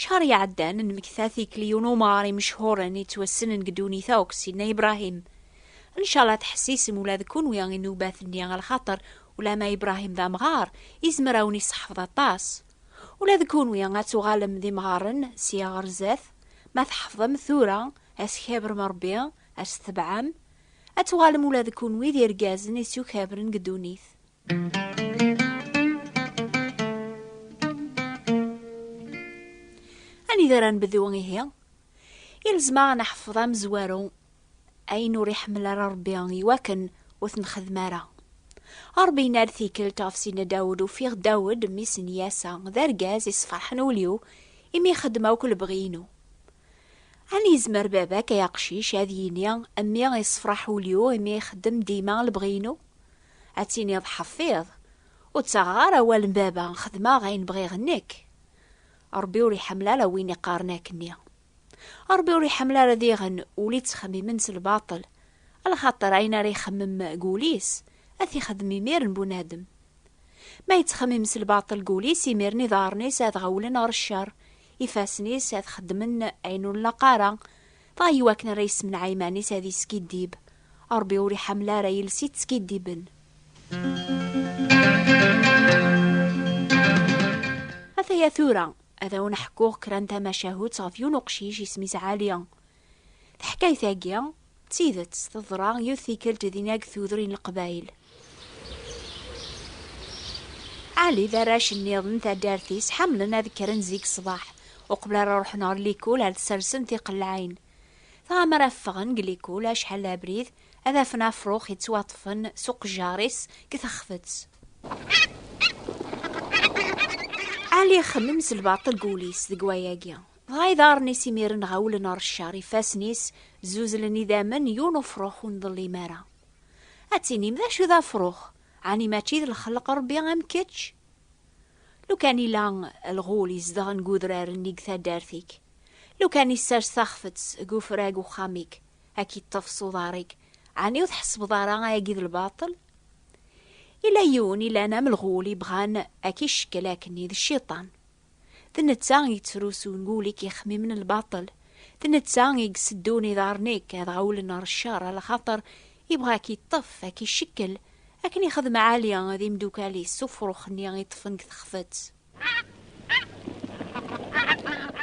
Cḥar iɛeddan, nmekta tikli i unumar imechhuren yettwassnen deg ddunit akk, Sidna Ibrahim. Ncallah tḥessisem ula d kunwi i nnubat-nni lxaṭer ulamma Ibrahim d amɣar, izmer a wen-iseḥfeḍ aṭas. Ula d kunwi ad tuɣalem d imɣaren sya ɣer zzat, ma tḥefḍem tura a s-kabrem Rebbi, a s-tebɛem, ad tuɣalem ula d kunwi d irgazen i s-yukabren deg ddunit. Anida ara nbdu ihi? Ilzem aɣ neḥfeḍ amezwaru ayen ur iḥemmel ara Rebbi iwakken ur t-nxeddem ara. Rebbi yenna-d tikkelt ɣef Sidna Dawed, ufiɣ Dawed, mmi-s n Yasa, d argaz yessefraḥen ul-iw, imi ixeddem akk lebɣi-inu. Ani yezmer baba-k ay aqcic ad yini, mmi yessefraḥ ul-iw imi ixeddem dima lebɣi-inu? Ad tiniḍ ḥeffiḍ, ur ttaɣeɣ ara awal n baba, xedmeɣ ayen bɣiɣ nekk. Ṛebbi ur iḥemmel ara win iqqaren akkenni. Ṛebbi ur iḥemmel ara diɣen ul ittxemmimen s lbaṭel, lxaṭer ayen ara ixemmem deg ul-is, ad t-ixdem imir n bunadem. Ma yettxemmim s lbaṭel deg ul-is, imir-n iḍarren-is ad ɣawlen ɣer ccer, ifassen-is ad xeddmen ayen ur nlaq ara, Dɣa i wakken ara yessemneɛ iman-is ad yeskiddib, Ṛebbi ur iḥamel ara iles yettskiddiben. Ataya tura, ad awen-ḥkuɣ kra n tamacahut ɣef yiwen uqcic isem-is Ɛali. Taḥkayt-agi, d tidet, teḍra yiwet tikkelt dinna deg Tudrin Leqbayel. Ali d arrac nniḍen taddart-is ḥemmlen ad kkren zik ṣṣbeḥ, uqbel ara ruḥen ɣer likul ad ssersen tiqellaɛin. Dɣa mi ara ffɣen deg likul acḥal d abrid, ad afen afrux yettwaṭṭfen s uqejjar-is deg texfet. Ali ixemmem s lbaṭel deg wul-is deg wayagi. Dɣa iḍarren-is imiren ɣawlen ɣer ccer, ifassen-is zuzlen idammen, yiwen ufrux ur nḍellim ara. Ad tinim d acu d afrux? Ɛni mačči d lxelq Rebbi am kečč? Lukan ila lɣul izedɣen deg udrar-nni deg taddart-ik, lukan isers taxfet deg ufrag uxxam-ik ad k-iṭṭef s uḍar-ik, ɛni ur tḥessbeḍ ara ayagi d lbaṭel? Ila yiwen ilan am lɣul ibɣan ad k-icekkel akken i d cciṭan. D netta i yettrusun wul-ik ixemmimen lbaṭel, d netta i iseddun iḍarren-ik ad ɣawlen ɣer ccer a lxaṭer yebɣa a k-iṭṭef, a k-icekkel, akken ixdem Ɛali d imdukal-is s ufrux-nni i ṭṭfen deg texfet.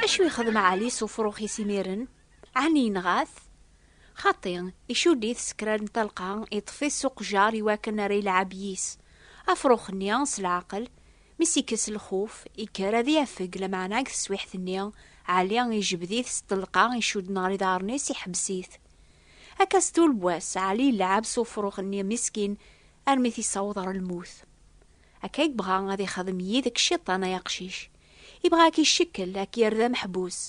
Acu ixdem Ɛali s ufrux-is imiren? Ɛni yenɣa-t? Xaṭi, icudd-it s kra n talqa, iṭṭef-it s uqjar iwakken ara ilɛeb yis. Afrux-nni, s leɛqel, Mi s-ikkes lxuf, ikker ad iafeg, lameɛna deg teswiḥt-nni, Ɛli ijbed-it s ṭṭelqa, icudden ɣer iḍarren-is, iḥbes-it. Akka s tul n wass, Ɛli yelɛab s ufrux-nni miskin armi t-issaweḍ ɣer lmut. Akka i yebɣa ad ixdem yid-k Ciṭan ay aqcic. Yebɣa ad k-icekkel, ad k-yerr d ameḥbus.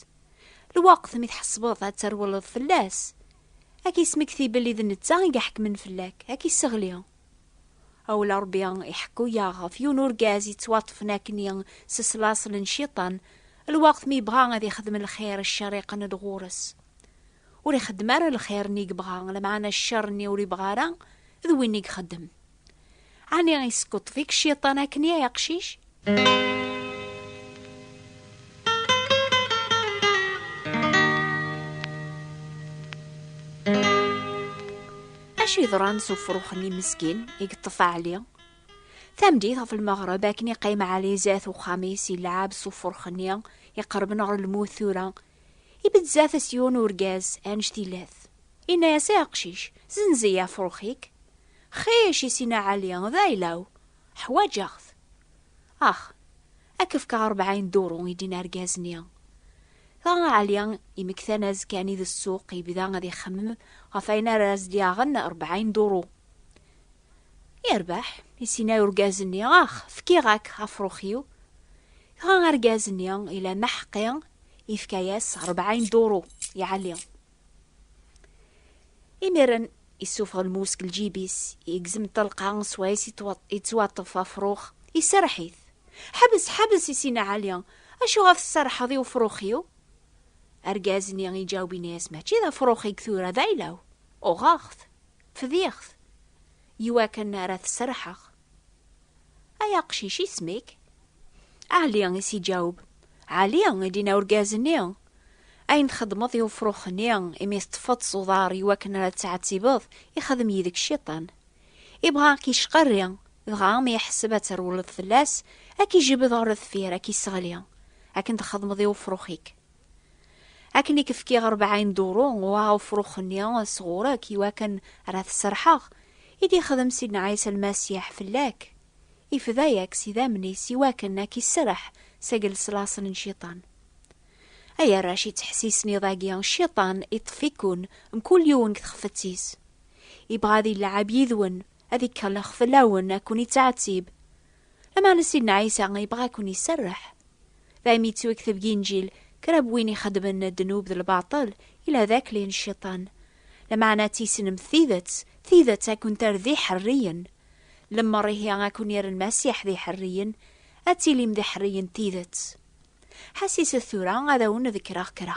Lweqt mi tḥesbeḍ ad terwleḍ fell-as, ad k-ismektibel i d netta i iḥekmen fell-ak, ad k-isseɣli. Awel Ṛebbi iḥekku-yaɣ ɣef yiwen urgaz yettwaṭṭfen akkenni s slaṣel n Ciṭan, lweqt mi yebɣa ad ixdem lxir ccer iqenn-d ɣur-s. Ur ixeddem ara lxir-nni i yebɣa, lmeɛna ccer-nni ur ibɣa ara d win i ixeddem. Ɛni yeskuṭṭef-ik Ciṭan akkenni ay aqcic? Acu yeḍran s ufrux-nni meskin i yeṭṭef Ɛli? Tameddit ɣef lmeɣreb akken iqqim Ɛli zdat uxxam-is yelɛab s ufrux-nni iqerben ɣer lmut tura. Ibedd zdat-s yiwen urgaz anect ilat. Yenna-as i aqcic, Zenz-iyi afrux-ik. Xic, isina Ɛli, d ayla-w. Ḥwaǧeɣ-t. Ax, ad k-fkeɣ rebɛin duru, i d-yenna argaz-nni. Dɣa Ɛli, imektan azekka-nni di ssuq, yebda ad ixemmem ɣef wayen ara as-d-yaɣen rebɛin duru. Yerbeḥ, i s-yenna urgaz-nni, ax, fkiɣ-ak afrux-iw. Dɣa argaz-nni, ila maḥeqqi, yefka-yas rebɛin duru i Ɛli. Imiren isufeɣ lmus deg lǧib-is, igzem ṭṭelqa swayes yettwaṭṭef afrux, iserreḥ-it. Ḥbes, ḥbes, i Sina Ɛli, acuɣer tserrḥeḍ i ufrux-iw? Argaz-nni iǧaweb yenna-as, Mačči d afrux-ik tura, d ayla-w, uɣeɣ-t. Fdiɣ-t, iwakken ara t-sserḥeɣ. Ay aqcic, isem-ik? Ɛli, i s-iǧaweb. Ɛli, i d-yenna urgaz-nni. Ayen txeddmeḍ i ufrux-nni, imi teṭṭfeḍ-t s uḍar iwakken ara t-teɛtibeḍ, ixeddem yid-k cciṭan. Ibɣa a k-yecqarri, dɣa mi iḥesseb ad terwleḍ fell-as, a k-ijbed ɣer deffir, a k-isseɣli, akken txeddmeḍ i ufrux-ik. Akken i k-fkiɣ rebɛin duru n uɛufrux-nni sɣur-k i wakken ara t-serḥeɣ, i d-ixdem Sidna Ɛisa Lmasiḥ fell-ak, ifda-yak s idammen-is i wakken a k-iserreḥ seg leṣlaṣel n Cciṭan. Ay arrac ittḥessisen iḍ-agi, Cciṭan iṭṭef-iken mkul yiwen deg txefett-is. Ibɣa ad ileɛɛeb yid-wen, ad ikellx fell-awen, ad ken-ittɛettib. Lameɛna Sidna Ɛisa ibɣa a ken-iserreḥ. d ayen yettwekteb deg Inǧil, kra n win ixeddmen ddnub d lbaṭel, yella d akli n Cciṭan. Lameɛna tissnemt tidet, tidet ad ken-terr d iḥerriyen. Lemmer ihi ad ken-yerr Lmasiḥ d iḥerriyen, ad tilim d iḥerriyen n tidet. Ḥassiset tura ad awen-ḍekkreɣ kra.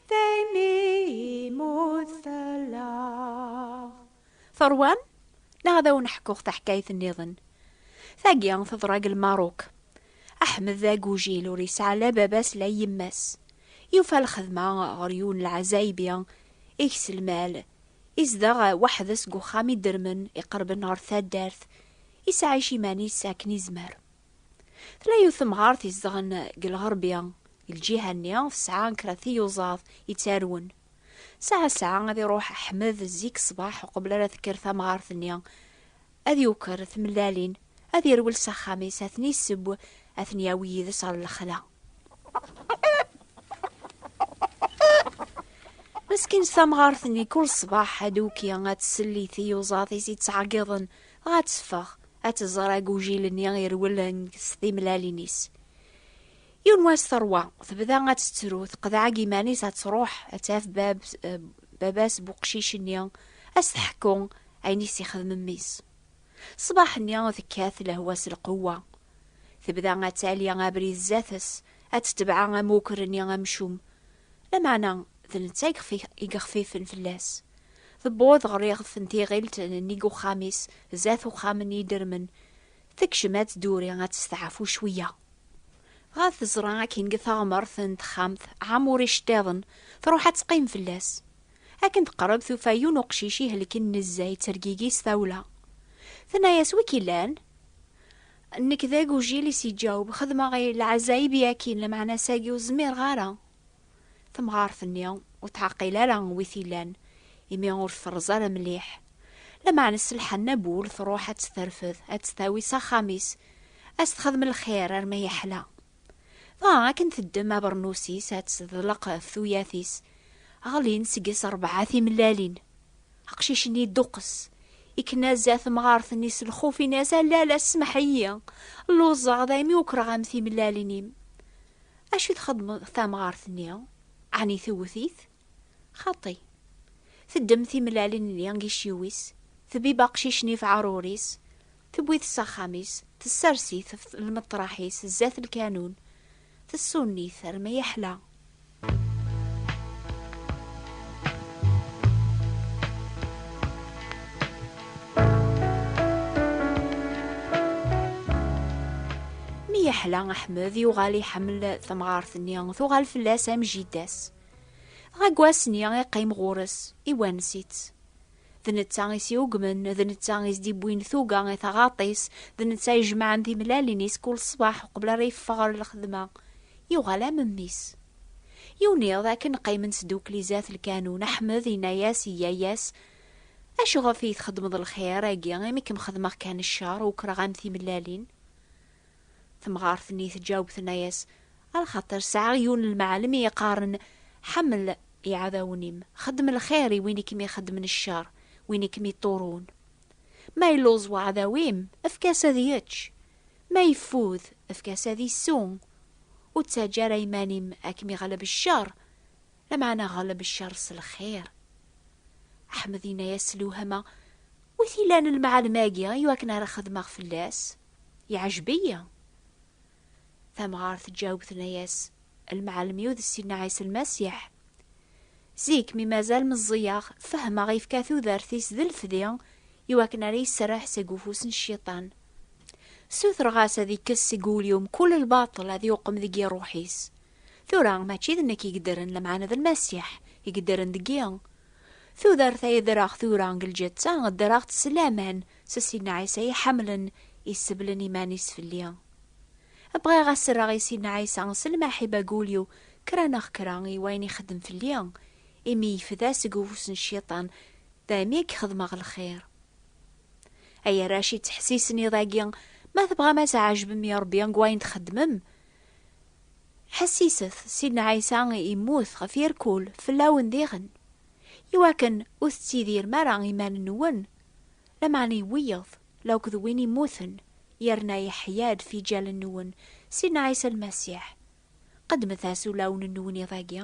Teṛwam? Neɣ ad awen-ḥkuɣ taḥkayt nniḍen. Tagi teḍra deg Lmaruk. Aḥmed d agujil ur yesɛi la baba-s la yemma-s. Yufa lxedma ɣer yiwen n lɛazaybi ikes lmal. Izdeɣ weḥd-s deg uxxam idermen iqerben ɣer taddart. Yesɛic iman-is akken yezmer. Tella yiwet temɣart izedɣen deg lɣerbi, deg lǧiha-nni tesɛa kra tiyuẓaḍ yettarwen. Saɛa saɛa ad iruḥ Ḥmed zik ṣṣbeḥ uqbel ara tekker tamɣart-nni, ad yuker tmellalin, ad irwel s axxam-is, ad ten-iseww, ad ten-yawi yid-s ɣer lexla. Meskint tamɣart-nni kul ṣṣbeḥ aduki ad tsell i tiyuẓaḍ-is yettɛeggiḍen, dɣa ad teffeɣ. ad tẓer agujil-nni irwel s timlalin-is. Yiwen wass terwa, tebda ad tettru, teqḍeɛ iman-is ad truḥ ad taf bab, eh, baba-s bu qcic-nni, ad s-teḥku ayen i s-ixdem mmi-s. Ṣṣbaḥ-nni tekkat lehwa s lqewwa. Tebda ad tali abrid zdat-s, ad tetbeɛ amuker-nni amcum. Lameɛna d netta i yexfifen fell-as. Tewweḍ ɣer iɣef n tiɣilt n nnig uxxam-is, zdat uxxam n yidermen. Tekcem ad tduri, ad testeɛfu cwiya. Dɣa teẓra akin deg teɣmert n texxamt ɛam ur iceṭṭiḍen, truḥ ad teqqim fell-as. Akken teqreb tufa yiwen uqcic ihelken nezzeh yettergigi s tawla. Tenna-as, Wi k-ilan? Nekk d agujil, i s-yeǧǧaweb, xedmeɣ i lɛazaib i akin, lameɛna ass-agi ur zmireɣ ara. Temɣart-nni ur teɛqil ara wi t-ilan, imi ur t-terẓ ara mliḥ. Lameɛna s lḥenna n wul truḥ ad tt-terfed, ad tt-tawi s axxam-is, ad s-texdem lxir arma yeḥla. Dɣa akken teddem abernus-is ad tt-teḍleq ɣef tuyat-is, ɣlin seg-s rebɛa timellalin. Aqcic-nni yedduqqes, yekna-za temɣart-nni s lxuf, yenna-as, A lala, smeḥ-iyi, lluẓeɣ, daymi ukreɣ-am timellalin-im. Acu i txeddem tamɣart-nni? Ɛni tewwet-it? Xaṭi. Teddem timellalin-nni deg yiciwi-s, tbibb aqcic-nni ɣef uɛrur-is, tewwi-t s axxam-is, tessers-it ɣef lmeṭṭraḥ-is zdat lkanun, tessunn-it armi yeḥla. Mi yeḥla Aḥmed yuɣal iḥemmel tamɣart-nni tuɣal fell-as am jidda-s. Dɣa deg wass-nni iqqim ɣur-s, iwanes-itt. D netta i s-yugmen, d netta i s-d-iwwin tuga i taɣaṭ-is, d netta i jemɛen timlalin-is kul ṣṣbeḥ uqbel ara yeffeɣ ɣer lxedma. Yuɣal am mmi-s. Yiwen iḍ akken qqimen sdukli zdat lkanun, Aḥmed yenna-as i yaya-s, Acu ɣef i yi-txedmeḍ lxir, agi, imi kem-xedmeɣ kan ccer, ukreɣ-am timellalin? Temɣart-nni tǧaweb tenna-yas, Alxaṭer sɛiɣ yiwen n lmeɛlem i yi-qqaren, Ḥemmel iɛdawen-im, xeddem lxir i win i kem-ixeddmen ccer, win i kem-iṭṭurun. Ma illuẓ weɛdaw-im, efk-as ad yečč, ma yeffud, efk-as ad isew. Ur ttaǧǧa ara iman-im ad kem-iɣleb ccer. Lameɛna ɣleb cceṛ s lxir. Ḥmed yenna-yas s lewhama, Wi t-ilan lemɛalem-agi i wakken ara xedmeɣ fell-as? Yeɛjeb-iyi! Tamɣart tǧaweb tenna-yas, Lemɛalem-iw d Sidna Ɛisa Lmasiḥ. Zik mi mazal meẓẓiyeɣ, fehmeɣ yefka tudert-is d lefdi i wakken ara yesserreḥ seg ufus n Cciṭan. Ssutreɣ-as ad ikkes seg wul-iw mkul lbaṭel ad yuqem deg-i ṛṛuḥ-is. Tura, mačči d nekk i yeddren, lameɛna d Lmasiḥ i yeddren deg-i. Tudert ay ddreɣ tura deg lǧetta, ddreɣ-tt s laman s Sidna Ɛisa i ḥemmlen, iseblen iman-is fell-i. Bɣiɣ ad serreɣ i Sidna Ɛisa s lmaḥiba deg wul-iw kra neɣ kra i wayen ixeddem fell-i, imi yefda seg ufus n cciṭan, daymi i k-xedmeɣ lxir. Ay arrac yettḥessisen iḍ-agi, ma tebɣam ad tɛejbem i Rebbi deg wayen txeddmem, Ḥessiset, Sidna Ɛisa yemmut ɣef yerkul fell-awen diɣen, iwakken ur tettidirem ara iman-nwen, lameɛna i wiyeḍ, la akk d win immuten, yerna yeḥya-d fiǧal-nwen, Sidna Ɛisa Lmasiḥ. Qeddmet-as ulawen-nwen iḍ-agi.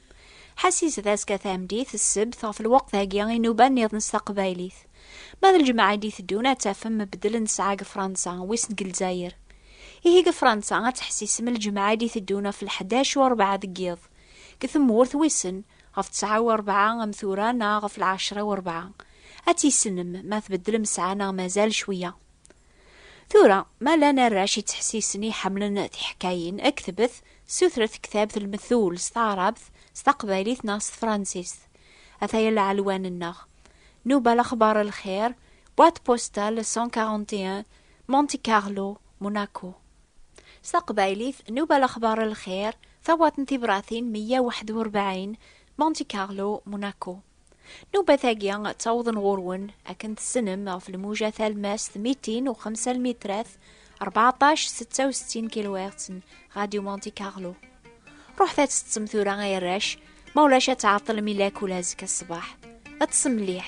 Ḥasis d azekka tameddit, ssebt, ɣef lweqt-agi i nuba nniḍen s taqbaylit. Ma d lǧemɛa i d-iteddun ad tafem mbeddel n ttesɛa deg Fransa, wissen deg Lezzayer. Ihi deg Fransa ad teḥsisem lǧemɛa i d-iteddun ɣef lḥdac u rebɛa deg yiḍ. Deg tmurt, wissen, ɣef ttesɛa u rebɛa am tura neɣ ɣef lɛecra u rebɛa. Ad tissnem ma tbeddlem ssɛa neɣ mazal cwiya. Tura, ma llan arrac yettḥessisen i ḥemmlen tiḥkayin, ktbet, sutret ktabt lmethul s taɛrabt, s taqbaylit neɣ s tefransist. Ataya lɛelwan-nneɣ. Nuba Lexbar Lxir, Boîte postale 141, Monte Carlo, Monaco. S taqbaylit, Nuba Lexbar Lxir, Tawaṭ n Tibratin 141, Monte Carlo, Monaco. Nubat-agi ttawḍen ɣur-wen akken tessnem ɣef lmuja talmast 205 lmitrat 14 66 kHz n Radio Monte Carlo. Ruḥet ad tettem tura ay arrac, ma ulac ad tɛeḍḍlem ilak ula azekka ṣṣbeḥ. Ṭṣem mliḥ.